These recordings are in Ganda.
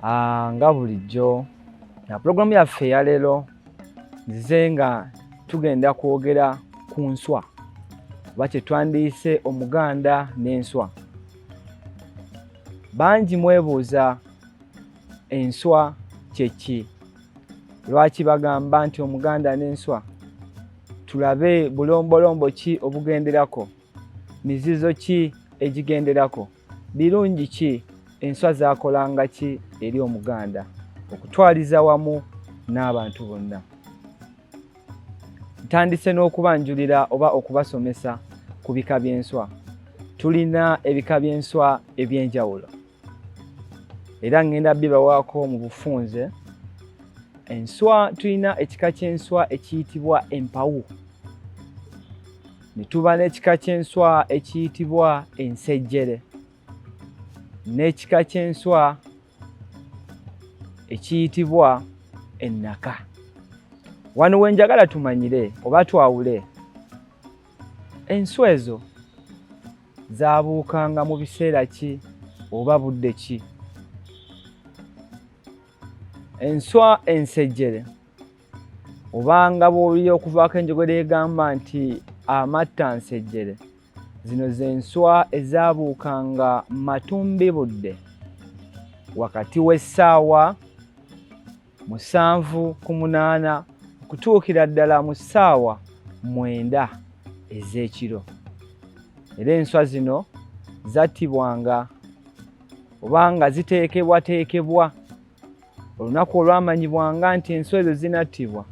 Ah, nga bulijjo na pulogulaamu yaffe eyaleero nzize nga tugenda kwogera ku nswa oba kyetwandiyise omuganda n'enswa bangi mwebuuza enswa kyeki lwaki bagamba nti omuganda n'enswa tulabe bulombolombo ki obugenderako Mizizo ki egigenderako? Birungi ki enswa zakolanga ki eri Omuganda okutwaliza wamu n'abantu bonna? Ntandise n'okubanjulira oba okubasomesa ku bika by'enswa. Tulina ebika by'enswa eby'enjawulo. era ngenda bibawaako mu bufunze enswa tulina ekika ky'enswa ekiyitibwa empawu ne tuba n'ekika ky'enswa ekiyitibwa ensejjere n'ekika ky'enswa ekiyitibwa ennaka wano we njagala tumanyire oba twawule enswa ezo zaabuukanga mu biseera ki oba budde ki enswa ensejjere obanga bw'owulira okuvaako enjogera egamba nti amatta nsejjere zino z'enswa ezaabuukanga matumbi budde wakati w'essaawa musanvu ku munaana okutuukira ddala mu ssaawa mwenda ez'ekiro era enswa zino zattibwanga oba nga ziteekebwateekebwa olunaku olwamanyibwanga nti enswa ezo zinattibwa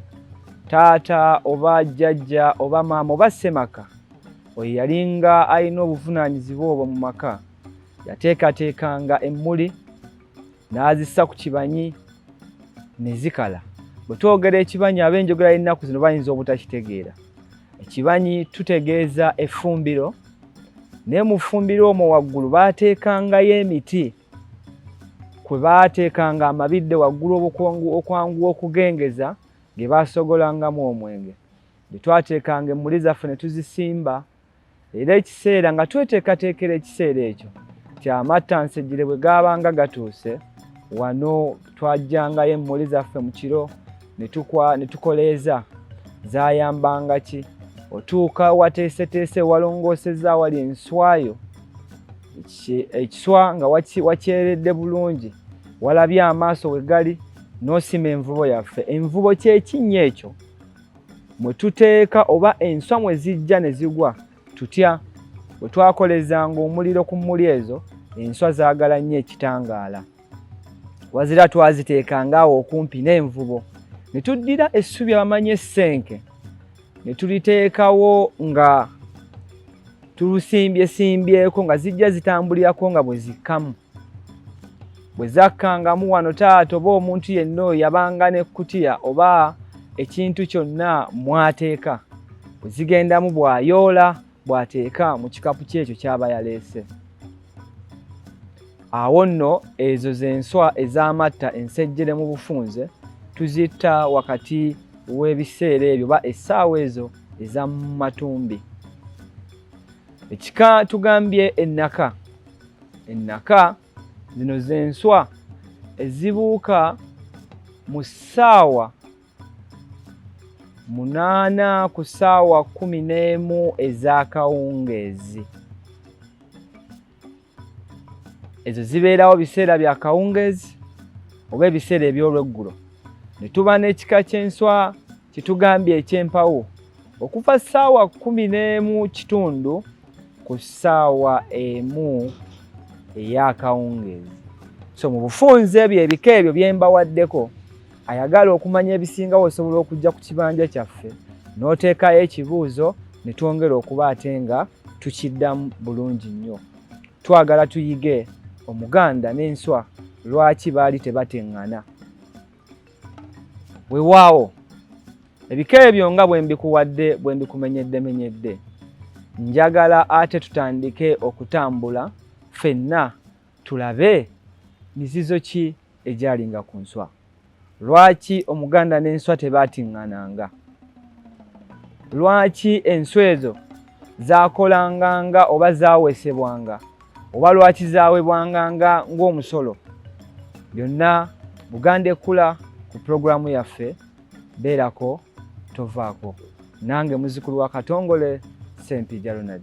taata oba jjajja oba maama oba ssemaka oyo yalinga alina obuvunaanyizibwa obwo mu maka yateekateekanga emmuli n'azissa ku kibanyi ne zikala bwe twogera ekibanyi ab'enjogera y'ennaku zino bayinza obutakitegeera ekibanyi tutegeeza effumbiro naye mu ffumbiro omwo waggulu baateekangayo emiti kwe baateekanga amabidde waggulu okwanguwa okugengeza ge baasogolangamu omwenge bye twateekanga emmuli zaffe ne tuzisimba era ekiseera nga tweteekateekera ekiseera ekyo nti amattansejjere bwe gaabanga gatuuse wano twajjangayo emmuli zaffe mu kiro ne tukoleeza zaayambanga ki otuuka wateeseteese walongoosezza awali enswayo ekiswa nga wakyeredde bulungi walabye amaaso we gali n'osima envubo yaffe envubo kyekinnya ekyo mwe tuteeka oba enswa mwe zijja ne zigwa tutya bwe twakolezanga omuliro ku mmuli ezo enswa zaagala nnyo ekitangaala wazira twaziteekanga awo okumpi n'envubo ne tuddira essubi abamanyi essenke ne tuliteekawo nga tulusimbyesimbyeko nga zijja zitambulirako nga bwe zikkamu bwe zakkangamu wano taata oba omuntu yenna oyo yabanga n'ekkutiya oba ekintu kyonna mwateeka bwe zigendamu bw'ayoola bw'ateeka mu kikapu ky'ekyo ky'aba yaleese awo nno ezo z'enswa ez'amatta ensejjere mu bufunze tuzitta wakati w'ebiseera ebyo oba essaawa ezo eza mu matumbi ekika tugambye ennaka ennaka zino z'enswa ezibuuka mu ssaawa munaana ku ssaawa kumi n'emu ez'akawungeezi ezo zibeerawo biseera bya kawungeezi oba ebiseera eby'olweggulo ne tuba n'ekika ky'enswa Kitugambye ekyempawo okuva ssaawa kumi n'emu kitundu ku ssaawa emu ey'akawungeezi. So mu bufunze ebyo ebika ebyo bye mbawaddeko, ayagala okumanya ebisingawo osobola okujja ku kibanja kyaffe n'oteekayo ekibuuzo ne twongera okuba ate nga tukiddamu bulungi nnyo. Twagala tuyige Omuganda n'enswa lwaki baali tebateŋŋana. wewaawo ebika ebyo nga bwe mbikuwadde bwe mbikumenyeddemenyedde njagala ate tutandike okutambula fenna tulabe mizizo ki egyalinga ku nswa lwaki omuganda n'enswa tebaatiŋŋananga lwaki enswa ezo zaakolanganga oba zaawesebwanga oba lwaki zaawebwanganga ng'omusolo byonna buganda ekkula ku pulogulaamu yaffe beerako tovaako nange muzukulu wa katongole sempija ronald